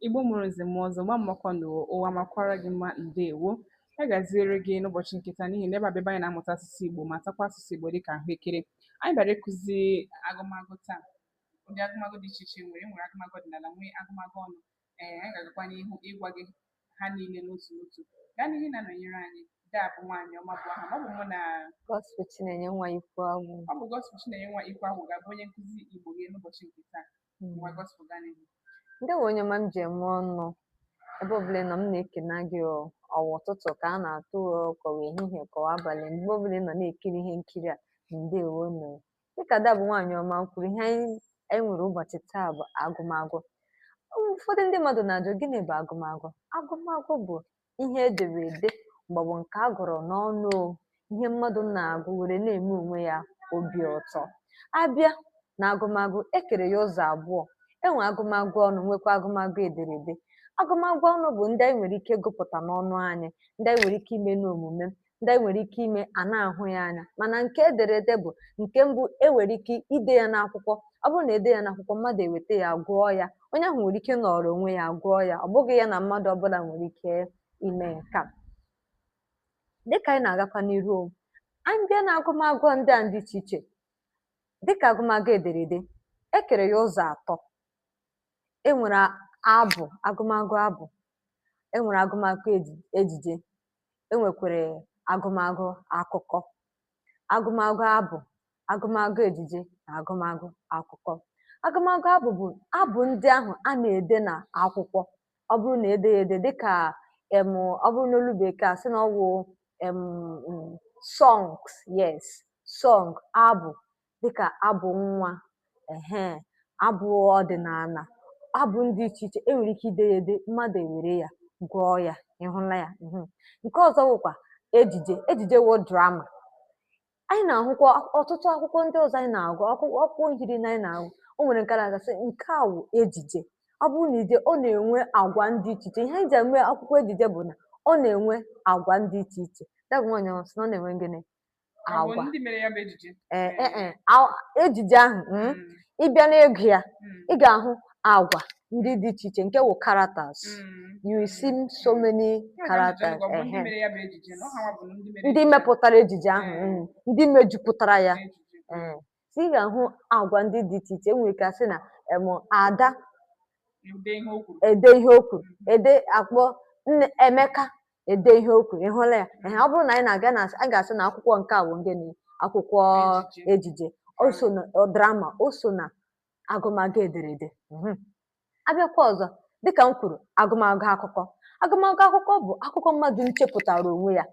Igbo mụrụ nze mụọ ọzọ gba mmakwa na ụwa makwara gị mma ndewo ya gaziere gị n'ụbọchị nke taa n'ihi na ebe a bụ ebe anyị na-amụta asụsụ Igbo matakwa asụsụ Igbo dịka ahụekere anyị bịara ịkụzi agụmagụ taa ụdị agụmagụ dị iche iche nwere e nwere agụmagụ ọdịnala nwee agụmagụ ọnụ ee anyị ga-agakwa n'ihu ịgwa gị ha niile n'otu n'otu gaa n'ihu na-anọnyere anyị daa bụ nwaanyị ọma bụ aha ọ bụ mụ na Gospel Chinenye nwa Ikwuagwụ ọ bụ Gospel Chinenye nwa Ikwuagwụ ga-abụ onye nkụzi Igbo gị n'ụbọchị nke taa hmm. ndewo onye ọma m ji eme ọnụ ebe ọbụla ị nọ m na-ekene gị ọ wụ ụtụtụ ka a na-atụ ka ọ wụ ehihie ka ọ wụ abalị mgbe ọbụla ị nọ na-ekiri ihe nkiri a ndewo nụ dịka ada bụ nwaanyị ọma kwuru ihe anyị nwere ụbọchị taa bụ agụmagụ ụfọdụ ndị mmadụ na-ajụ gịnị bụ agụmagụ agụmagụ bụ ihe e dere ede maọbụ nke a gụrụ n'ọnụ o, ihe mmadụ na-agụ were na-eme onwe ya obi ụtọ. A bịa n'agụmagụ, e kere ya ụzọ abụọ. E nwee agụmagụ ọnụ, nwekwaa agụmagụ ederede. Agụmagụ ọnụ bụ ndị anyị nwere ike ịgụpụta n'ọnụ anyị, ndị anyị nwere ike ime n'omume, ndị anyị nwere ike ime a na-ahụ ya anya mana nke ederede bụ nke mbụ e nwere ike ide ya n'akwụkwọ ọ bụrụ na e dee ya n'akwụkwọ mmadụ eweta ya gụọ ya onye ahụ nwere ike nọrọ onwe ya gụọ ya ọ bụghị ya na mmadụ ọbụla nwere ike ime nke a dịka anyị na-agakwa n'iru anyị bịa na agụmagụ ndị a dị iche iche dịka agụmagụ ederede e kere ya ụzọ atọ e nwere abụ agụmagụ abụ e nwere agụmagụ ejije e nwekwara agụmagụ akụkọ agụmagụ abụ agụmagụ ejije na agụmagụ akụkọ agụmagụ abụ bụ abụ ndị ahụ a na-ede na akwụkwọ ọ bụrụ na e dee ya ede dịka em ọ bụrụ n'olu bekee a sị na ọ wụ em songs yes song abụ dịkà abụ̀ nwa ehe abụ̀ ọdị̀nààlà abụ̀ ndị ichè ichè e nwèrè ike ide ya ède mmadụ̀ èwère ya gụọ ya ị hụla ya ehe ǹke ọ̀zọ wụ̀kwà ejìjè ejìjè wụ drama anyị nà-àhụkwa ọ̀tụtụ akwụkwọ ndị ọ̀zọ anyị nà-àgụ akwụkwọ akwụkwọ nkiri nà anyị nà-àgụ o nwèrè ǹke a nà-àgụ sị ǹke à wụ̀ ejìjè ọ bụrụ nà ejìjè ọ nà-ènwe àgwà ndị ichè ichè ihe anyị jì àma akwụkwọ ejìjè bụ̀ nà ọ nà-ènwe àgwà ndị ichè ichè ada bụ̀ nwaànyị̀ a sị nà ọ nà-ènwe gịnị agwa ejije ahụ hmm, hmm. ị bịa n'ịgụ ya hmm. ị ga-ahụ agwa ndị dị iche iche nke wụ characters you see so many characters ndị mepụtara ejije ahụ ndị mejupụtara ya so ị ga-ahụ agwa ndị dị iche iche e nwere ike a sị na em Ada e dee ihe o kwuru e dee a kpọọ Emeka e dee ihe o kwuru ị hụla ya ehe ọ bụrụ na anyị na-agụ a ga-asị na akwụkwọ nke a wụ gịnị akwụkwọ Ejije. ejije o so na drama o so na agụmagụ ederede Mhm. Abịakwa ọzọ, dịka m kwuru, agụmagụ akụkọ. Agụmagụ akụkọ bụ akụkọ mmadụ nchepụtara onwe ya.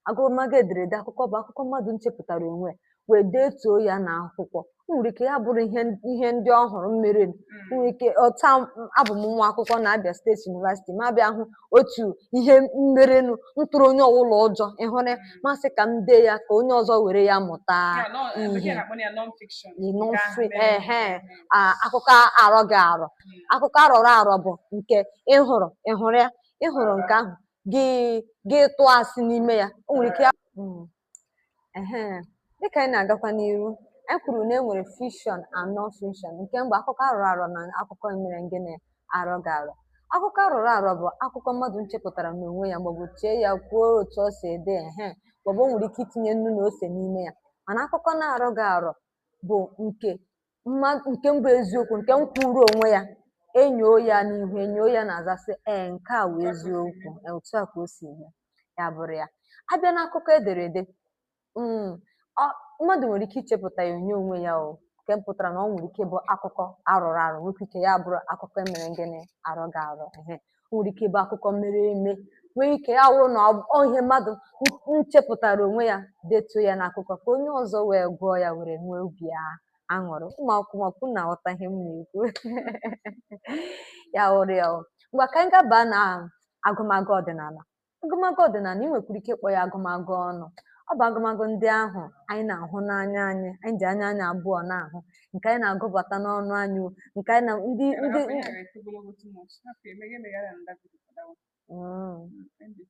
Agụmagụ ederede akụkọ bụ akụkọ mmadụ nchepụtara onwe ya wee detuo ya na akwụkwọ. O nwere ike ya bụrụ ihe ndị ọ hụrụ mmere. O nwere ike ọta abụ m nwa akwụkwọ na Abia State University ma bịa hụ otu ihe mmerenụ ntụrụ onye ọwụla ụjọ ị hụrụ ya ma sị ka m dee ya ka onye ọzọ were ya mụta Ya, nọ- eh, bekee ihe. na-akpọ ya non-fiction. Ị nọ Nke ahụ mfe, mere eme. ehe. a, akụkọ arọghị arọ akụkọ arọrọ arọ bụ nke ị hụrụ ị hụrụ ya ị hụrụ nke ahụ gị gị tụọ asị n'ime ya o nwere ike ya- Mm. Ehe, dịka anyị na-agakwa n'iru anyị kwuru na e nwere fiction and non-fiction nke mbụ akụkọ arọrọ arọ na akụkọ emere ngịnị arọghị arọ akụkọ arọrọ arọ bụ akụkọ mmadụ nchepụtara n'onwe ya maọbụ chee ya kwuo otu o si ede ehe maọbụ o nwere ike itinye nnu na ose n'ime ya mana akụkọ na-arọghị arọ bụ nke mm nke mbụ eziokwu nke nkwuuru onwe ya enyoo ya n'ihu enyoo ya n'azụ a sị ee nke a wụ eziokwu ee, otu a ka o si eme ya bụrụ ya abịa n'akụkọ ederede mm, ọ- mmadụ nwere ike ichepụta ya onye onwe ya o nke mpụtara na ọ nwere ike bụ akụkọ arọrọ arọ nwekwa ike ya bụrụ akụkọ emere ngịnị arọghị arọ ehe o nwere ike ịbụ akụkọ mere eme nwee ike ya wụrụ na ọ- ọ ihe mmadụ n- nchepụtara onwe ya detuo ya n'akụkọ ka onye ọzọ wee gụọ ya were nwee obi a- aṅụrị ụmụ akwụkwọ makwa unu na-aghọta ihe m na-ekwu ya wụrụ ya wụrụ. ngwa ka anyị gaba na agụmagụ ọdịnala Agụmagụ ọdịnala, i nwekwara ike ịkpọ ya agụmagụ ọnụ. Ọ bụ agụmagụ ndị ahụ anyị na-ahụ n'anya anyị, anyị ji anya anyị abụọ na-ahụ, nke anyị na-agụbata n'ọnụ anyị, o, nke anyị na ndị Ka ndị afọ ya ghara ito ogologo too much, hapụ ya, emeghe emeghara ndagwurugwu adawa. Mm. Mm, end it.